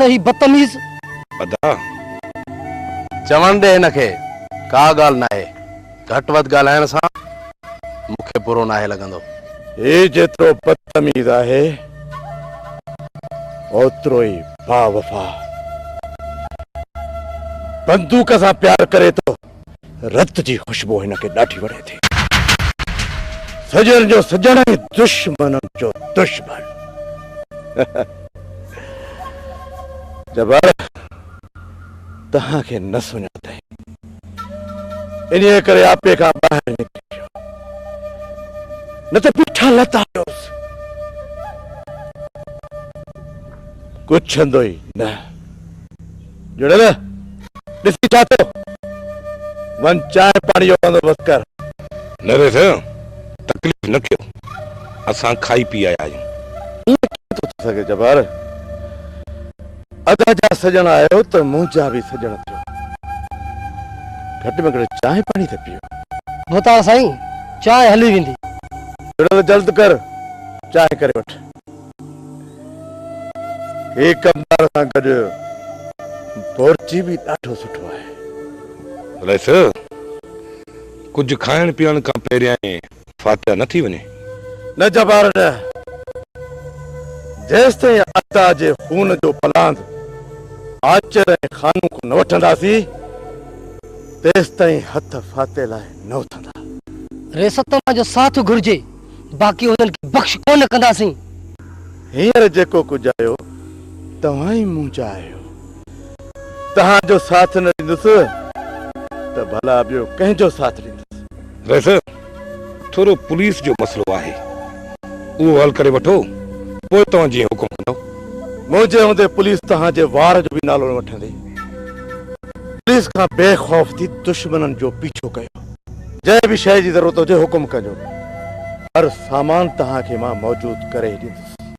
ته هي بدتميز. ادا! چوڻ ڏي هن کي، ڪا ڳالهه ناهي، گهٽ وڌ ڳالهائڻ سان مون کي برو ناهي لڳندو. هي جيترو بدتميز آهي، اوترو ئي باوفا. بندوق سان پيار ڪري ٿو. رت جي خوشبو هن کي ڏاڍي وڻي ٿي. سڄڻ جو سڄڻ ۽ دشمن جو دشمن. جبار توهان کي نه سڃاتئين انهيء ڪري آپي کان ٻاهر نڪري ويو نه ته بيٺا لتا هئس. ڪڇندو ئي نه. جڙيل ڏسي ڇا ٿيو؟ وڃ چانهه پاڻي جو بندوبست ڪر. نري سائين تڪليف نه ڪيو اسان کائي پي آيا آهيون. ائين ڪيئن ٿو ٿي سگهي جبار؟ ادا جا سڄڻ آهيو ته منهنجا به سڄڻ ٿيو. گهٽ ۾ گهٽ چانهه پاڻي ته پيو. مختار سائين چانهه هلي ويندي. جڙيل جلد ڪر چانهه ڪري وٺ. هي ڪم ٻار سان گڏ بورچي به ڏاڍو سٺو آهي. رئيس، ڪجهه کائڻ پيئڻ کان پهريائين فاتحه نه ٿي وڃي؟ نه جبار نه. جيستائين عطا جي خون جو پلاند آچر ۽ خانو کان نه وٺنداسين، تيستائين هٿ فاتحي لاء نه اٿندا. ريستما جو ساٿ گهرجي. باقي انهن کي بخش ڪونه ڪنداسين. هينئر جيڪو ڪجهه آيو، توهان ئي مون جا آهيو. توهان جو ساٿ نه ڏيندس ته ڀلا ٻيو ڪنهن جو ساٿ ڏيندس؟ ويسي ٿورو پوليس جو مسئلو آهي، اهو حل ڪري وٺو، پوء توهان جيئن حڪم ڪندؤ. منهنجي هوندي پوليس توهان جي وار جو به نالو نه وٺندي. پوليس کان بي خوف ٿي دشمنن جو پيڇو ڪيو. جنهن به شيء جي ضرورت هجي حڪم ڪجو هر سامان توهان کي مان موجود ڪري ڏيندس.